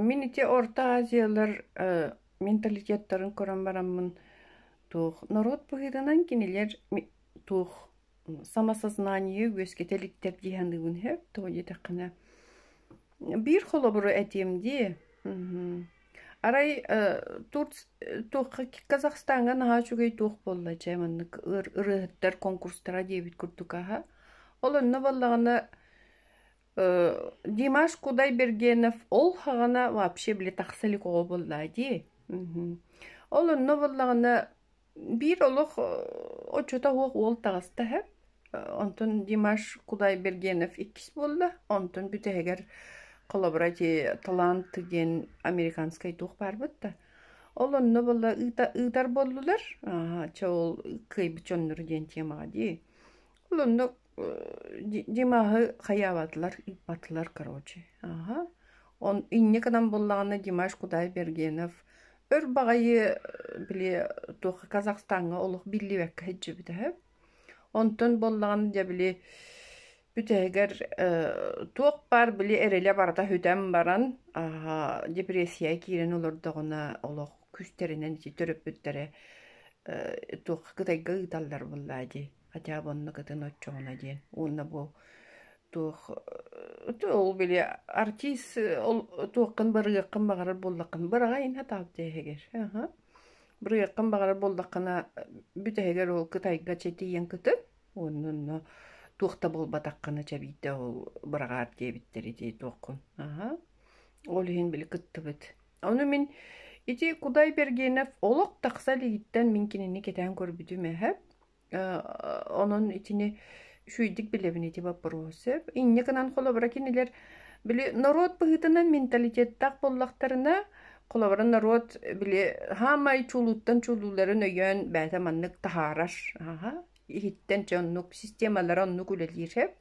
Мин ити Орто Азиялар менталитеттарын көрөн бараммын туох норуот быһыытынан кинилэр туох самосознаниеы үөскэтэ иликтэр дии саныыбын сөп туо диэтэххинэ биир холобуру этиэм дии арай Казахстаҥҥа наһаа үчүгэй туох буолла чэ маннык ырыаһыттар конкурстара диэбит курдук аһа ол онно буоллаҕына Димаш Кудай-Бергенов ол һаҕана вообще били тахса илик оҕо буоллаҕа дии. Ол онно буоллаҕына биир олох оччото суох уол таҕыста үһү. Онтон Димаш Кудай-Бергенов иккис буолла. Онтон бүтэһигэр холобура ити «Талант» диэн американскай туох баарбыт да. Ол онно буолла ыытар буоллулар. Чэ ол кыайбыт дьонноро диэн тиэмэҕэ дии. Олунну Димаһы хайаабатылар, ыыппатылар, короче. Аха. Он инне кынан буллаҕына Димаш Кудай Бергенов өр баҕайы били туохха Казахстаҥҥа олох биллибэккэ һэджжэбит эһэ. Онтон боллаҕын дьэ били бүтэһигэр туох баар били эрэлэ барата хүтэн баран депрессия киирэн олордоҕуна олох күстэринэн ити төрөппүттэрэ туохха кытайга ыыталлар буллаа дии хотя бы оннук ытын оччоҕуна диэн уонна бу туох ол били артист ол туоххын барыаххын баҕарар буоллаххын быраҕайын хатаал дээһигэр аха бырыаххын баҕарар буоллаххына бүтэһигэр ол кытайга чэтиийэн кытын оннунна туох да буолбатаххына чэбийтэ ол быраҕаар диэбиттэри дии туоххун аха ол иһин били кыттыбыт ону мин ити кудай бергенов олох тахса илигиттэн мин кинини кэтээн көрбүтүм эһэ Онон итини үчүгэйдик билэбин ити боппуруос сөп. Инньэ гынан холобура кинилэр били норуот быһыытынан менталитеттаах буоллахтарына, холобура норуот били хаамай чуулууттан чуулууларын өйөөн бэйэтэ маннык таһаарар, аһа, иһиттэн дьэ оннук системалара оннук үлэлиир сөп.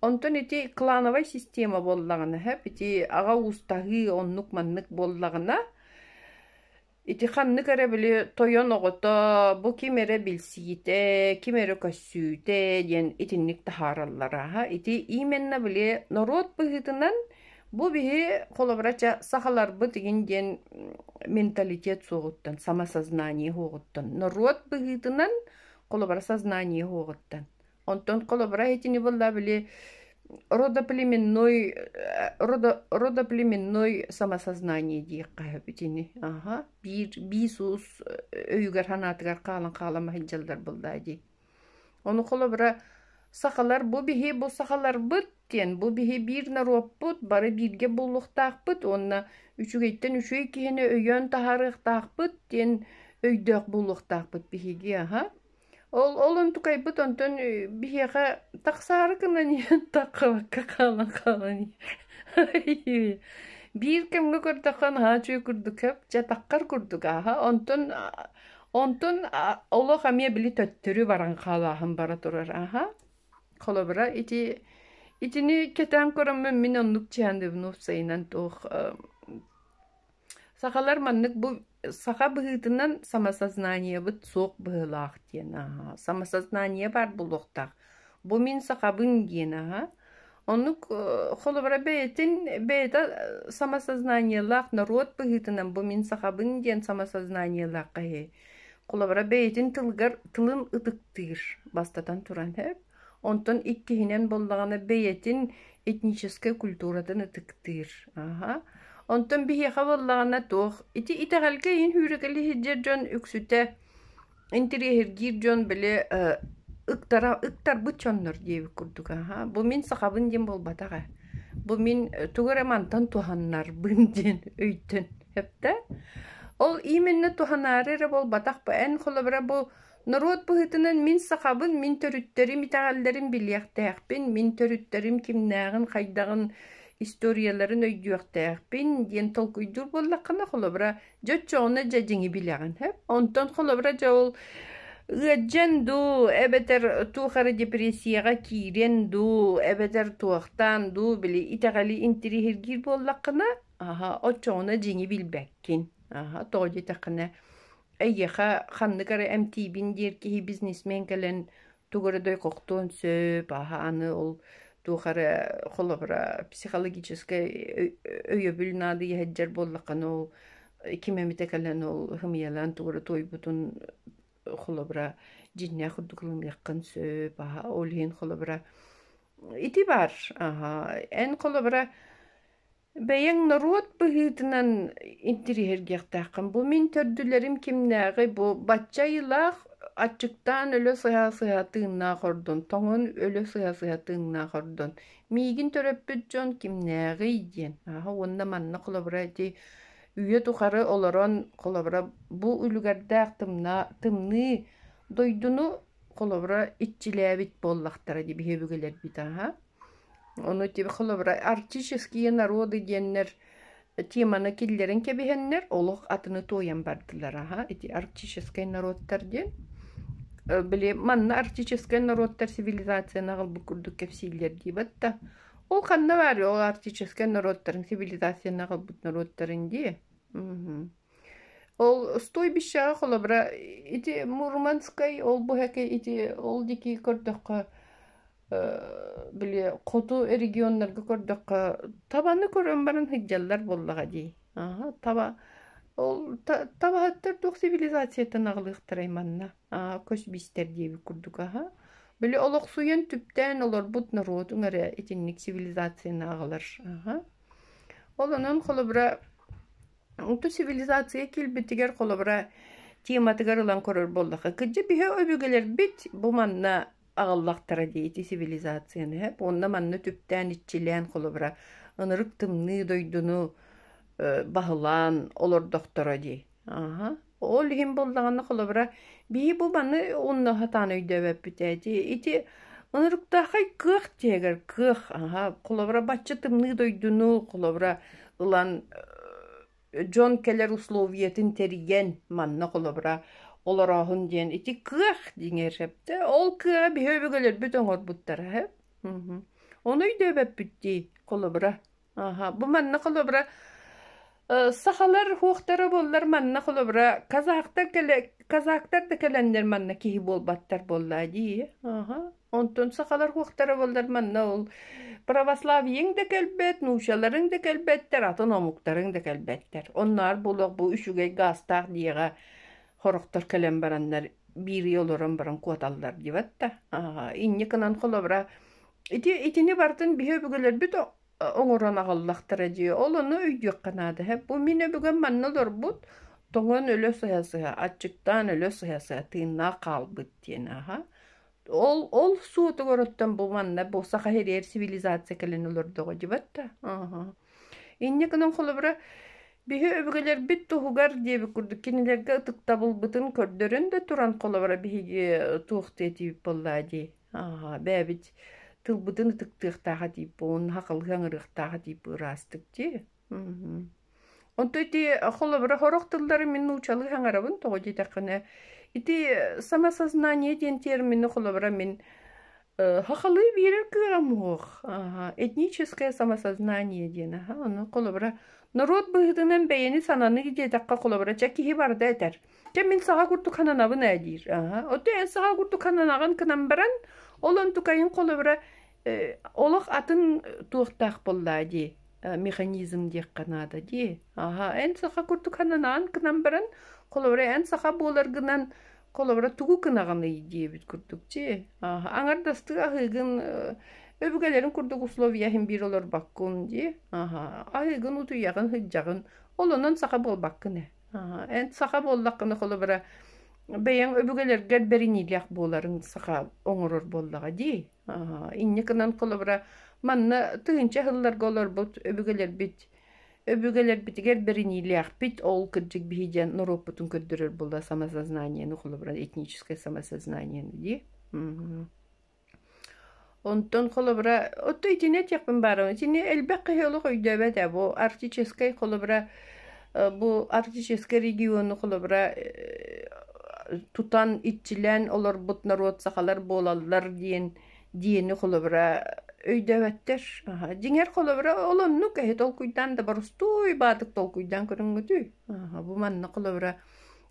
Онтон ити клановай система буоллаҕына сөп, ити аҕа уустаһыы оннук маннык буоллаҕына Ити ханнык эрэ били тойон оҕото бу ким эрэ билсиитэ, ким эрэ көссүүтэ диэн итинник таһаараллара. Ити именна били норуот быһыытынан бу биһи холобура ча сахаларбыт игин диэн менталитет суоҕуттан, самосознание суоҕуттан, норуот быһыытынан холобура сознание суоҕуттан. Онтон холобура этини булла били родоплеменной э, родо родоплеменной самосознание диэххэ итини аха биир биис уус өйүгэр ханаатыгар хаалан хаалама сылдьаллар буллаа дии ону холобура сахалар бу биһи бу сахаларбыт диэн бу биһи биир норуоппут бары бииргэ буллухтаахпыт уонна үчүгэйтэн үчүгэй киһини өйөөн таһаарыахтаахпыт диэн өйдөөх буллухтаахпыт биһиги аха Ол ол онтукайбыт онтон биһиэхэ тахсаары гынан иһэн таххабакка хаалан хаалан биир кэмҥэ көрдөххө наһаа үчүгэй курдук көп дьэ таххар курдук ааһа онтон онтон олох эмиэ били төттөрү баран хаалааһын бара турар ааһа холобура ити итини кэтээн көрөммүн мин оннук чиандыбын уопсайынан туох Сахалар маннык бу саха быһыытынан самосознаниебыт суох быһыылаах диэн аһа. Самосознание баар буолуохтаах. Бу мин сахабын диэн аһа. Оннук холобура бэйэтин бэйэтэ самосознаниелаах норуот быһыытынан бу мин сахабын диэн самосознаниелаах киһи холобура бэйэтин тылыгар тылын ытыктыыр бастатан туран Онтон иккиһинэн буоллаҕына бэйэтин этническай культуратын ытыктыыр. Аха. Онтон биһиэхэ буоллаҕына туох ити итэҕэлгэ иһин үүрүкэлии сылдьар дьон үксүтэ интириэһиргиир дьон били ыктара ыктарбыт дьоннор диэбит курдук аха бу мин сахабын диэн буолбатах ээ бу мин тугу эрэ мантан туһаннарбын диэн өйтөн эптэ ол именно туһанаары эрэ буолбатах эн холобура бу Норуот быһыытынан мин сахабын, мин төрүттэрим итэҕэллэрин билиэхтээхпин, мин төрүттэрим кимнээҕин-хайдаҕын историяларын өйдүөхтээхпин диэн толкуйдуур буоллаххына, холобура, дьэ оччоҕуна дьэ дьиҥи билэҕин. Онтон холобура дьэ ол ыалдьан дуу, эбэтэр туох эрэ депрессияҕа киирэн дуу, эбэтэр туохтаан дуу, били итэҕэли интириэһиргиир буоллаххына, аха, оччоҕуна дьиҥи билбэккин. Аха, тоҕо диэтэххинэ, Эйиэхэ ханнык эрэ эмтиибин диэр киһи бизнесмен кэлэн тугу эрэ дойкохтуон сөп, аһа аны ол туох эрэ холобура психологическай өйөбүл наадыйа сылдьар буоллаххына ол ким эмитэ кэлэн ол һымыйалаан тугу эрэ туойбутун холобура дьиҥнээх курдук ылыныаххын сөп, аһа ол иһин холобура ити баар, аһа эн холобура Бэйэҥ норуот быһыытынан интириэһиргиэхтээххин. Бу мин төрдүлэрим кимнээҕий? Бу бачча айылаах, аччыктаан өлө сыһа-сыһа тыыннаах ордун, тоҥон өлө сыһа-сыһа тыыннаах ордун. Миигин төрөппүт дьон кимнээҕий диэн. Ааһа уонна манна холобура ити үйэ тухары олорон холобура бу үлүгэрдээх тымнаа тымныы дойдуну холобура иччилээбит буоллахтара дии биһи өбүгэлэрбит ааһа. Ону холобура арктические народы диэннэр теманы киллэрин кэбиһэннэр олох атыны туойан бардылара аха ити арктическай норуоттар диэн били манна арктическай норуоттар цивилизациянаҕ ылбыт курдук кэпсииллэр дии батта ол ханна баарый ол арктическай норуоттарын цивилизациянаҕ ылбыт норуоттарын дии ол стойбищеҕа холобура ити мурманскай ол бу эки ити ол дики көрдөххө били хоту регионнарга көрдөххө табаны көрөн баран сылдьаллар буоллаҕа дии. Аһа, таба ол табаһыттар туох цивилизацияттан аҕалыахтарай манна а көс бистэр диэбит курдук аһа били олохсуйан түптээн олорбут норуотуҥ эрэ итинник цивилизацияны аҕалар аһа олонон холобура онту цивилизация килбитигэр холобура тематыгар ылан көрөр буоллаха кыдьы биһи өбүгэлэрбит бу манна аҕаллахтара дии ити цивилизацияны эп уонна манна түптээн иччилээн холобура ынырык тымныы дойдуну баһылаан олордохторо дии аха ол иһин буоллаҕына холобура бии бу маны унна сатаан өйдөөбөппүт эти ити ынырыктаахай кыах дьиэгэр кыах аха холобура бачча тымныы дойдуну холобура ылан дьон кэлэр условиятын тэрийэн манна холобура олорооһун диэн ити кыах диҥэ сөптө ол кыаҕа биһи өбүгэлэрбит оҥорбуттара һэ ону өйдөөбөппүт дии холобура аха бу манна холобура сахалар хуохтара буоллар манна холобура казахтар кэлэ казактар да кэлэннэр манна киһи буолбаттар буоллаа дии аха Онтон сахалар уохтара буоллар манна ол православиеҥ да кэлбэт, нуучаларыҥ да кэлбэттэр, атын омуктарыҥ да кэлбэттэр. Онноор булуох бу үчүгэй гаастаах дьиэҕэ хороктор кэлэн бараннар бииргэ олорон баран куоталлар диэбэт да, аа, инникинэн холобура ити итини бартын биһи өбүгэлэрбит о- оҥорон аҕаллахтара дии. Ол ону өйдүөххэ наада. һэ. Бу мин өбүгэм манна олорбут, тоҥон өлө сыһа-сыһа, аччыктаан өлө сыһа-сыһа, тыыннаах хаалбыт диэн, аһа. Ол ол суотугуруттан бу манна бу саха ириэр цивилизация кэлин олордоҕо дьыбат да. Аха. Инньэ гынан холобура биһи өбүгэлэрбит туһугар диэбит курдук кинилэргэ ытыктабылбытын көрдөрөн да туран холобура биһиги туох диэтиип боллаа дии. Аха, бэйэбит тылбытын ытыктыахтааха диип буолун, хахалыы аҥырыахтааха диип ыраастык дии. Онто ити холобура хорох тыллары мин нуучалыы хаңарабын тоҕо диэтэххинэ ити самосознание диэн термини холобура мин хахалыы биэрэр кыаҕым уох этническое самосознание диэн аха ону холобура норуот быһыытынан бэйэни сананы диэтэххэ холобура чэ киһи барда этэр кэ мин саха курдук хананабын ээ диир аха оту эн саха курдук хананаҕын кынан баран ол онтукайын холобура олох атын туохтаах боллаа дии механизм диэххэ наада дии аха эн саха курдук хананаан гынан баран холобура эн саха буоларгынан холобура тугу гынаҕыный диэбит курдук дии аха аҥардастыы аһыыгын өбүгэлэрин курдук условияһын биир олорбоккун дии аха аһыыгын утуйаҕын сыдьаҕын олонон саха буолбаккын ээ аха эн саха буоллаххына холобура бэйэҥ өбүгэлэргэр бэриниилээх буоларын саха оҥорор буоллаҕа дии инньэ гынан холобура манна тыһыынча сылларга олорбут өбүгэлэрбит өбүгэлэрбитигэр бэриниилээхпит ол кырдьык биһи диэн норуоппутун көрдөрөр була самосознаниены холобура этническое самосознание дии онтон холобура отто итини этиэхпин баарым итини элбэх киһи олох өйдөөбөт ээ бу артическай холобура Бу Арктическай региону холобура тутан, иччилээн олорбут норуот сахалар буолаллар диэн диэни холобура өйдөөбөттөр. Дьиҥэр холобура ол оннук эһи толкуйдаан да борустуой баатык толкуйдаан көрүҥҥүтүй. Бу манна холобура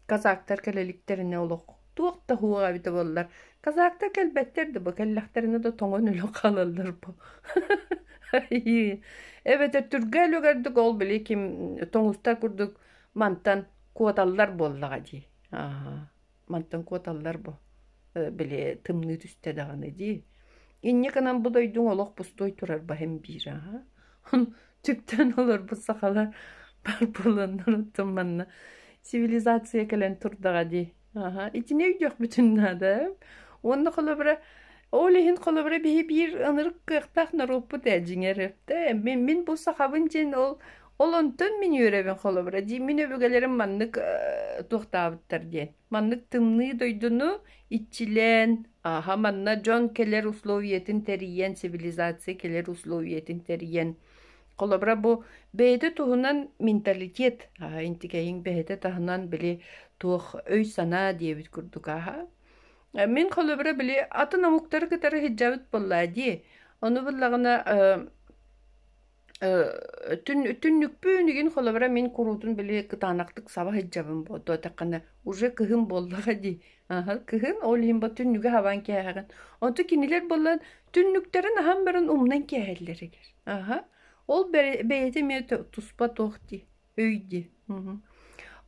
казактар кэлэликтэринэ олох туох да һуоҕа эбитэ буоллар казактар кэлбэттэр да бу кэллэхтэринэ да тоҥон өлөн хаалаллар бу эбэтэр түргээл үгэрдик ол били ким тоҥустар курдук мантан куоталлар буоллаҕа дии мантан куоталлар бу били тымныы түстэ даҕаны дии инньэ гынан бу дойдуҥ олох пустой турар баһым биир аһа Чүптэн олорбут сахалар барбыланнарыттын манна цивилизация кэлэн турдаҕа дии. Аха, итини өйдүөх бүтүн наада. Онно холобура ол иһин холобура биһи биир ынырык кыахтаах норуоппут ээ дьиҥэр эптэ мин мин бу сахабын дьин ол ол онтон мин үөрэбин холобура дии мин өбүгэлэрим маннык э, туохтаабыттар диэн Маннык тымныы дойдуну иччилээн, ааһа манна дьон кэлэр условиятын тэрийэн, цивилизация кэлэр условиятын тэрийэн, холобура бу бэйэтэ туһунан менталитет аа интикэһиҥ бэйэтэ таһынан били туох өй-санаа диэбит курдук ааһа. Э, мин холобура били атын омуктары кытары сыддьабыт буоллаа дии. Ону буллаҕына э, Түннүкпүн игин холобура мин куруутун били кытаанахтык саба сылдьабын буолуо атаххана уже кыһын буоллаҕа дии аһа кыһын ол иһин бу түннүгү хабан кээһэҕин онто кинилэр буолан түннүктэрин аһан баран умнан кээһэллэр игэр аһа ол бэйэтэ эмиэ туспа туох дии өйдү.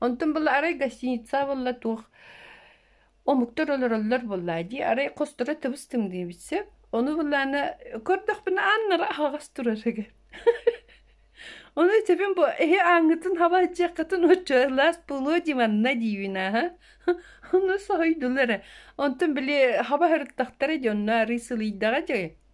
Онтон была арай гостиница болла туох омуктар олороллор болла дии арай хосторо тыбыстым дии битсе ону буллана көрдөхпүнэ аннара аһаҕас турарыгар Ону тэбин бу эһи аңытын хаба дьаккатын оччалас булуо диманна диивинаха. Ону соһойдулар. Онтон били хаба хырыттахтара дьонно арый сылыйдаҕа дьэ.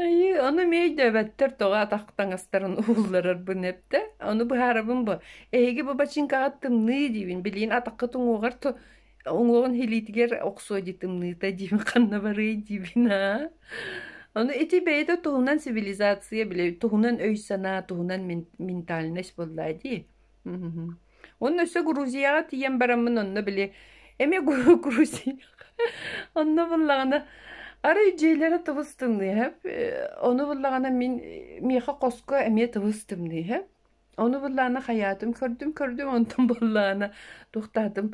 Айыы, ону мэйдөөбөттөр тоҕо атах таҥастарын уулларарбын эптэ. Ону быһаарабын бу. Эһиги бу бачыҥкаҕа тымныы диибин. Билигин атахха туҥуоҕар ту уҥуоҕун илиитигэр охсуо дии тымныыта диибин ханна барыай диибин аа. Ону ити бэйэтэ туһунан цивилизация бile туһунан өй-санаа, туһунан мен- ментальность буоллаа дии. Онно өссө Грузияҕа тиийэн бараммын онно били эмиэ Гру- Грузия онно буллаҕына арай дьиэлэрэ тыбыс тымныыһа э, ону буллаҕына мин э, миэхэ хоско эмиэ тыбыс тымныыһа ону буллаҕына хайаатым көрдүм көрдүм онтон буллаҕына туохтаатым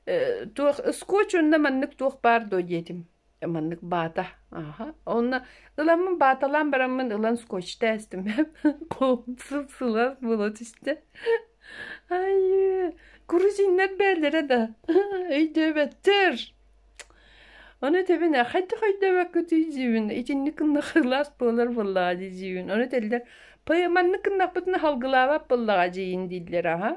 э, туох скотч онно маннык туох баар дуо диэтим маннык баата аха онно ыламмын бааталаан бараммын ылан скотчта эстим сылаас буола түстэ айыы грузиннар бээллэрэ да өйдөөбөттөр ону тэбин хайдах өйдөөбөккүтүй диибин итинник кыннах ылаас буолар буоллаҕа дии диибин ону тэллэр маннык кыннахпытына халгылаабат буоллаҕа диин дииллэр аха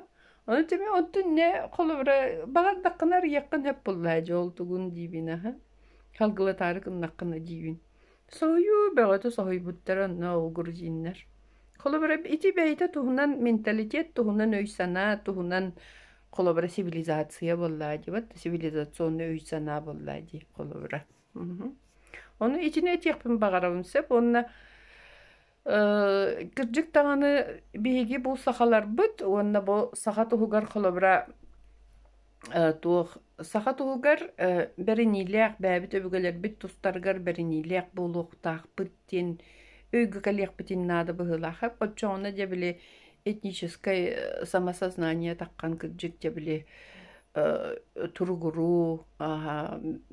Ону тими оттунне холобура балардаккына арыйаккын эппуллаа же ол тугун диибин аха халгылатаары кыннаккына диибин соһуйуу бөҕөтө соһуйбуттар онно огрузиннар холобура ити бэйэтэ туһунан менталитет туһунан өй-санаа туһунан холобура цивилизация боллаа дибат цивилизационный өй-санаа боллаа ди холобура ону итини этиэхпин баҕарабын сөп уонна Кырдьык даҕаны биһиги бу сахаларбыт уонна бу саха туһугар холобура туох саха туһугар бэриниилээх бэйэбит өбүгэлэрбит тустарыгар бэриниилээх буолуохтаахпыт диэн өйгө кэлиэхпитин наада быһыылаах оччоҕуна дьэ били этническай самосознание таххан кырдьык дьэ били туругуруу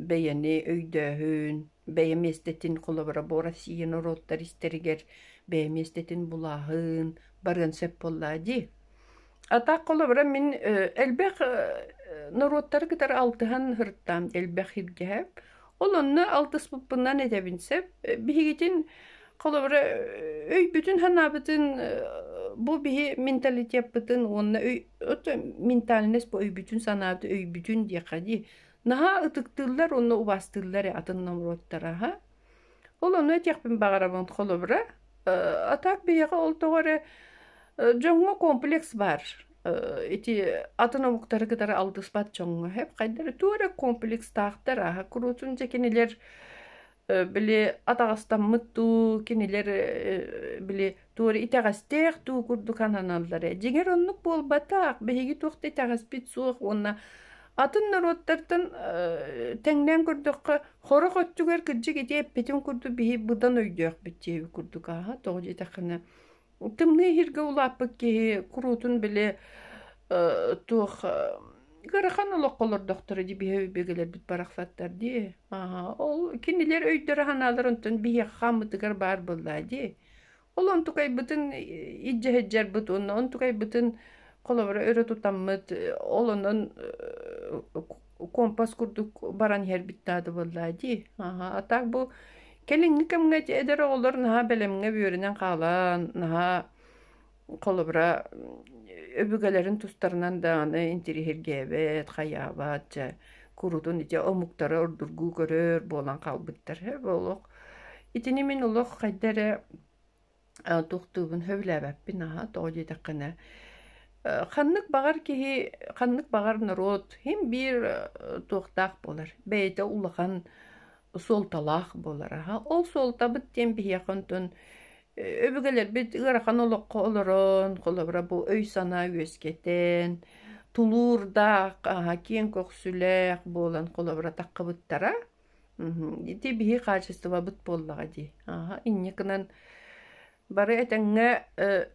бэйэни өйдөөһүн бэйэ миэстэтин холобура бу Россия норуоттар истэригэр бэйэ миэстэтин булааһын барыан сөп буоллаа дии. Атаах холобура мин элбэх норуоттары кытары алтыһан һыртаам элбэх иргэһэп. Ол онно алтыспыппынан этэбин сөп. Биһигитин холобура өй бүтүн ханаабытын бу биһи менталитетпытын уонна өй ментальность бу өй бүтүн санааты өй бүтүн диэхэ дии Наһаа ытыктыыллар уонна убастыыллар атын номоруоттара ха. Ол ону этиэхпин баҕарабын холобура. А так биһиэхэ ол тоҕо эрэ дьоҥҥо комплекс бар. Ити атын омуктары кытары алтыспат дьоҥҥо хэп хайдары туора комплекстаахтар аха куруутун дьэ кинилэр били атаҕастаммыт дуу, кинилэр били туора итэҕэстээх дуу курдук сананаллара. Дьиҥэр оннук буолбатах. Биһиги туох да итэҕэспит суох уонна атын норуоттартан тэҥнээн көрдөххө, хорох өттүгэр кырдьык ити эппитин курдук биһи быдан өйдөөхпүт диэби курдук ааһа. Тоҕо диэтэххинэ Тымныы иһиргэ улааппыт киһи куруутун били э, туох э, ыарахан олоххо олордохторо дии биһи бигэлэрбит барахсаттар дии. Ааха, ол кинилэр өйдөрө-санааларын онтон биһиэхэ хааммытыгар баар буоллаа дии. Ол онтукайбытын иддьэһэддьэрбит уонна онтукайбытын холобура өрө тутаммыт, э, ол онон компас курдук баран иһэрбит таатыбыллаа дии аха а так бу кэлиҥҥи кэмҥэ эдэр оҕолор наһаа бэлэмҥэ бүөрүнэн хаалан наһаа холобура өбүгэлэрин тустарынан даҕаны интириһиргээбэт хайаабат дьэ курутун ити омуктары ордургуу көрөр буолан хаалбыттар олох итини мин олох хайда эрэ Туохтуубун сөбүлээбэппин аһа тоҕо диэтэххинэ ханнык баҕар киһи ханнык баҕар норуот иһин биир туохтаах буолар бэйэтэ улахан суолталаах буолар аһа ол суолтабыт диэн биһиэхэ онтон өбүгэлэрбит ыарахан олоххо олорон холобура бу өй-санаа үөскэтэн тулуурдаах аһа киэҥ көхсүлээх буолан холобура таххыбыттара Ити биһи хаачыстыбабыт буоллаҕа дии. Ааһа инньэ гынан бары этэҥҥэ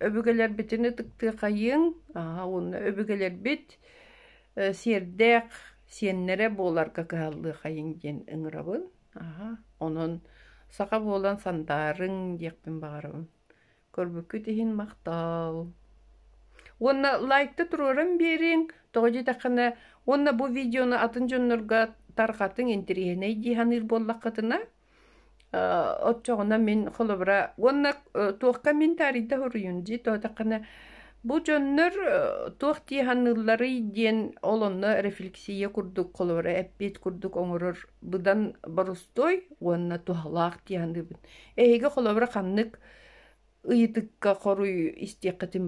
өбүгэлэрбитин ытыктыахайыҥ, ааһа уонна өбүгэлэрбит сиэрдээх сиэннэрэ буоларга кыһаллыахайыҥ диэн ыҥырабын. Ааһа онон саха буолан сандаарыҥ диэхпин баҕарабын. Көрбүккүт иһин махтал. Уонна лайкта туруоран биэриҥ, тоҕо диэтэххинэ, уонна бу видеону атын дьоннорго тарҕатыҥ, интириэһинэй дии саныыр буоллаххытына, оччоҕуна мин холобура уонна туохха мин таарыйда хоруйун дии тоотаххына бу дьоннор туох дии саныылларый диэн ол онно рефлексия курдук холобура эппиэт курдук оҥорор быдан борустуой уонна туһалаах дии саныыбын Эһиги холобура ханнык ыйытыкка хоруй истиэххитин